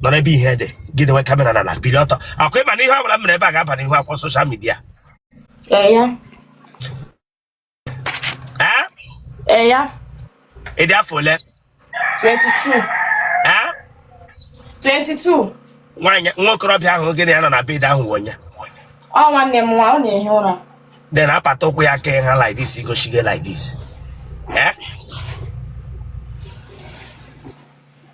nọ n'ebe ihe dị gị dewe camera na na bili ọtọ ọ kwa ị ma na ihe ọbụla m mere ebe a ga-aba n'ihu akwụkwọ social media Ee, ya. ee Ee, ya. ị dị afọ ole 22. ee 22. nwaanyị nwa okorobịa ahụ gị na ya nọ na bed ahụ wụ onye Ọ nwanne m nwa, ọ na-ehi ụra. then apata ụkwụ ya kee ha like this igosi gị like this ee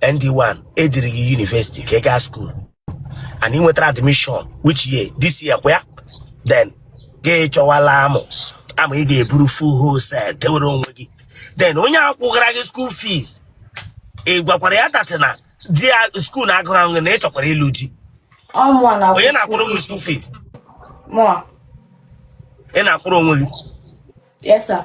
ND1 ediri gị university ka ị gaa school and ị nwetara admission which year this year kwa ya then gị chọwala amụ amụ ị ga-eburu full wholesale dewere onwe gị then onye a kwụgara gị school fees ị gwakwara ya that na di ya school na-agụrụ ahụ gị na ị chọkwara ịlụ di ọ mụa na onye na-akwụrụ gị school fees mụa ị na-akwụrụ onwe gị yes sir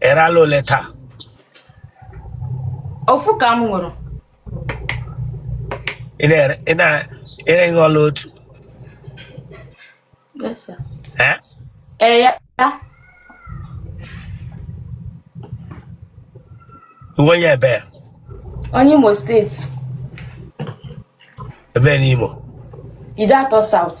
ị rala ole taa ofu ka m ṅụrụ ị na-ere ị na- ị na-aṅụ ọla otu Yes, sir. Eh? ee ya ya ị wụ onye ebe onye Imo State ebe n'Imo Ideato South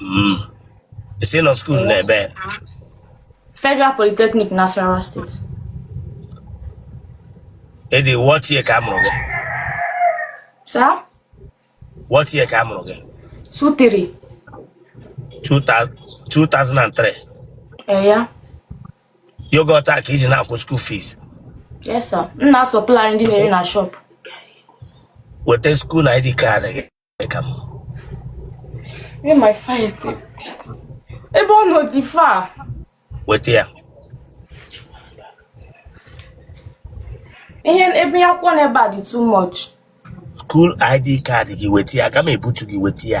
Mm. Ị sị ị nọ school n'ebe? Federal Polytechnic Nasarawa State. Edi, what year ka a mụrụ gị? Sir? What year ka a mụrụ gị? Two three. 2003. Eh, ya. Yoghurt a ka i ji na-akwụ school fees. Yes, sir. M na-asupplyrị ndị na-ere na shop. Weta school na ID card gị. ka m Where my file dị? Ebe ọ nọ dị far. weta ya Ihe ebe ya kwụọ n'ebe a dị too much. school ID card gị weta ya ka m ebutu gị weta ya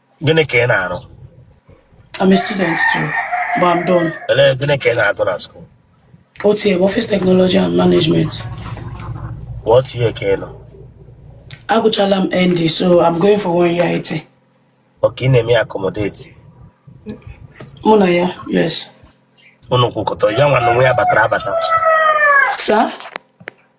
gịnị ka ị na-arụ I'm a student too, but I'm done. Ele- gịnị ka ị na-agụ na school OTM, Office Technology and Management. what year ka ị nọ Agụchala m ND, so I'm going for one year IT. okay ị na-eme ya accommodate Mụ na ya, yes. unu kwụkọtara ya nwa na onwe ya batara abata Sir?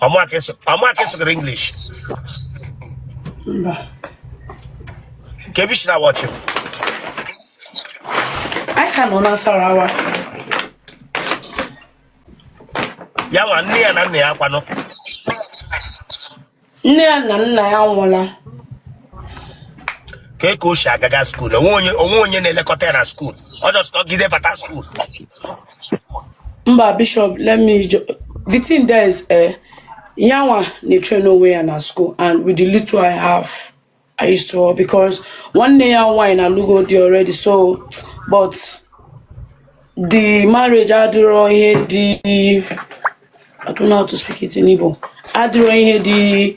ọ mụa ka ị sụgara English kee ebe i si na wọchị anyị ka nọ na Nasarawa ya nwa nne ya na nna ya kwanụ nne ya na nna ya nwụla kee ka o si agaga school o nwe onye na-elekọta ya na school ọ just nọgide bata school mba bishop let me ju- the thing there is eh, yanwa na-etrain onwe ya na school and with the little i have i used to work because nwanne ya nwaanyị alụgo di already so but the marriage adịrọ ihe dị i don't know how to speak it in igbo adịrọ ihe dị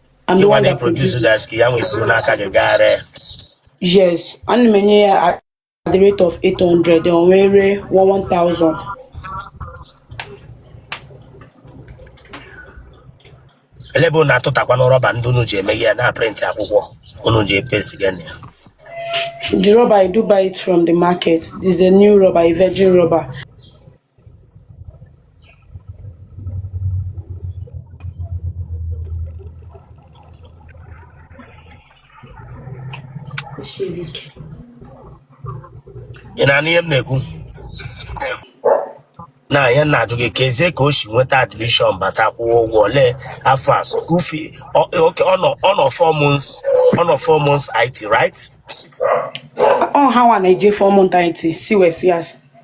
I'm the Gịnwa one that na-eproduce produces the ice cream. yanwa eburu n'aka gị gaa ree. Yes, ana m enye ya at at the rate of 800, o wee ree 1000. Ele ebe unu na-atụtakwanụ rubber ndị unu ji eme ihe na prịntị akwụkwọ unu ji epesti gị na ya. The rubber, I do buy it from the market. This is a new rubber, a virgin rubber. ị na-anụ ihe m na-ekwu na ya na-ajụ gị kezi ka o shi nweta admission bata kwụọ ụgwọ ole afọ a school fee ọ- okay, ọ nọ ọ nọ four months ọ nọ four months IT right ọ ha nwa na-eje four months IT si wee si ya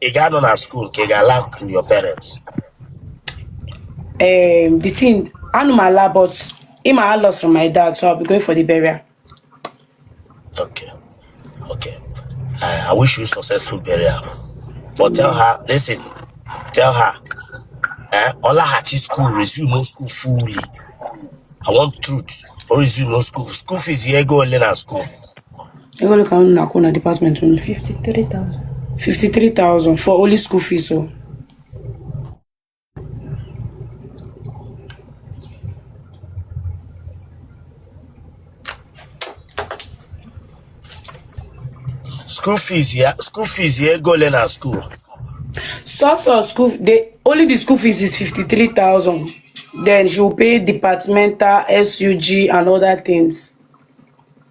ị ga-anọ na skuul ka ị ga-ala to your parents um, the thing anụ m ala but ịma a lost my dad so I'll be going for the burial okay okay I, I wish you successful burial but tell her listen tell her eh, ọlaghachi school resume school fully I want truth or resume school school fees ya ego ole na school Ego ka unu na-akwụ na department unu? 53,000. 53,000 for only school fees o. School fees ya school fees ya ego ole na school? Sọsọ school the only the school fees is 53,000. Then she will pay departmental, SUG and other things.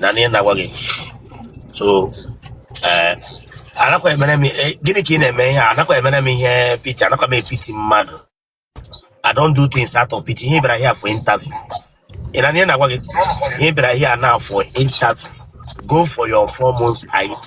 na-anụ ihe m na-agwa gị so eh, anakwa emere m eh, gịnị ka ị na-eme ihe a anakwa emere m ihe pity anakwa m epity mmadụ I don't do things out of pity. Ihe ị bịara here for interview. Ị na-anụ ihe m na-agwa gị, ihe ị bịara here now for interview. Go for your four months IT.